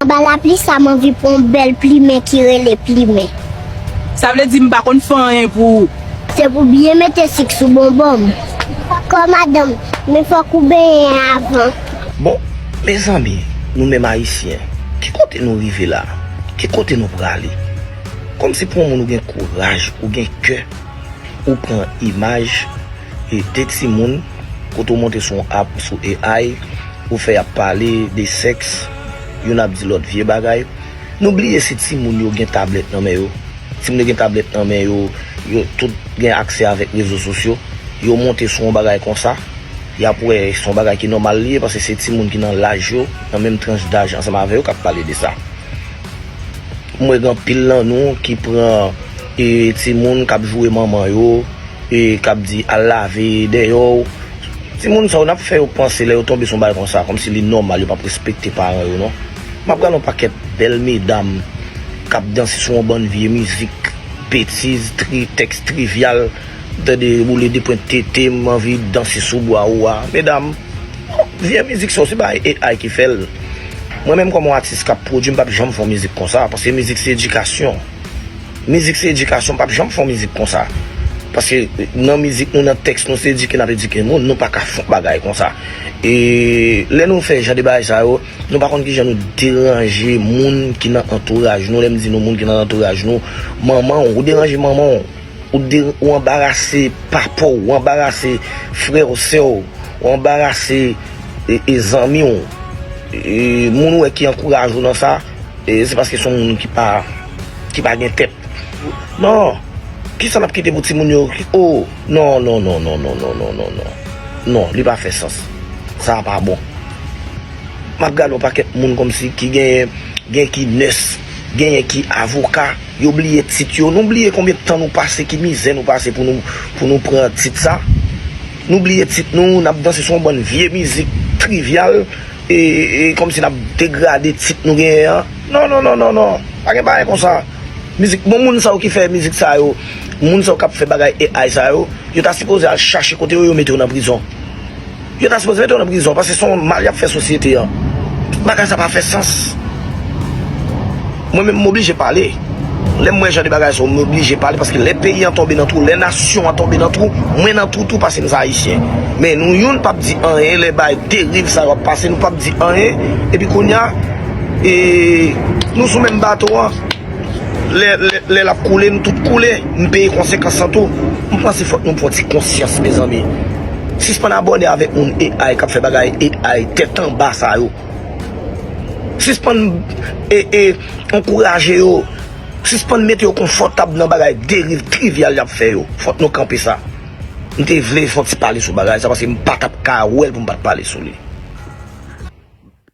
Anba lapli sa m anvi pran yon bèl plimen ki rele plimen. Sa vle di m pa konn fè anyen pou ou. Se pou byen mete sik sou bonbon m. Kò madanm, men fòk ou benyen avan. Bon, mezanmi, nou menm Ayisyen, ki kote nou rive la? Ki kote nou prale? Kòmsi pou yon moun ou gen kouraj, ou gen kè, ou pran imaj e de timoun kote ou monte sou yon app sou AI, ou fè y ap pale de sèks, Youn ap di lòt vye bagay. Nou bliye si timoun yo gen tablèt nan men yo. Timoun yo gen tablèt nan men yo, yo tout gen aksè avèk rezo sosyo. Yo monte sou yon bagay konsa, y ap wè se yon bagay ki nòmal li ye paske se timoun ki nan laj yo, nan menm tranch daj ansanm avè yo k ap pale de sa. M wè gen anpil nan nou ki pran timoun k ap joure manman yo, k ap di al lave deyò. Timoun sa yo nap fè yo panse lè yo tonbe sou bagay konsa kòmsi li nòmal yo pap respekte paran yo non map gad yon pakèt bèl medam kap danse sou yon bann vye mizik betiz tri tèks trivyal m tande boule de pwent tete m anvi danse sou bwa ou a medam oh vye mizik sa yo se bagay AI ki fèl mwen menm kòm yon atis kap pwodui m pap janm fè yon mizik konsa paske mizik se edikasyon. Mizik se edikasyon, m pap janm fè yon mizik konsa. Paske nan mizik nou, nan tèks nou, se edike n ap edike moun, nou pa ka fè yon bagay konsa. E lè nou fè jan de bagay sa yo, nou pa konn ki jan nou deranje moun ki nan antouraj nou. Lè m di nou moun ki nan antouraj nou, manman w, ou deranje manman w, ou anbarase papa w, ou anbarase frè w, sè w, ou anbarase zanmi w, e moun ou wè ki ankouraje w nan sa, e se paske se yon moun ki pa. ki pa gen tèt non kisa nap kite pou ti moun yo oh non non non non non non non non non non li pa fè sans sa pa bon map gade yon pakèt moun kòmsi ki gen gen ki nès genyen ki avoka yo bliye tit yo nou bliye konbyen tan nou pase ki mizè nou pase pou nou pou nou pran tit sa nou bliye tit nou nap danse sou yon bann vye mizik trivyal e e kòmsi nap degrade tit nou genyen an. Non non non non non pa gen bagay konsa mizik bon moun sa yo ki fè mizik sa yo moun sa yo kap fè bagay AI sa yo yo ta sipoze al chache kote yo yo mete yo nan prizon yo ta sipoze mete yo nan prizon paske son mal yap fè sosyete an bagay sa pa fè sans mwen menm m oblije pale lèm wè jan de bagay sa yo m oblije pale paske lè peyi an tonbe nan twou lè nasyon an tonbe nan twou mwen nan twou tou paske m se ayisyen men nou youn pap di anyen lè bay deriv sa yo ap pase nou pap di anyen epi kounya. e nou sou menm bato an lè lap koule nou tout koule nou peye konsekans lan tou m panse fòk nou pran ti konsyans mezanmi sispann abòne avèk moun AI kap fè bagay AI tèt anba sa yo sispann ee ankouraje yo sispann mete yo konfòtab nan bagay deriv trivyal yap fè yo fòk nou kanpe sa m te vle fon ti pale sou bagay sa paske m patap ka wèl pou m pat pale sou li.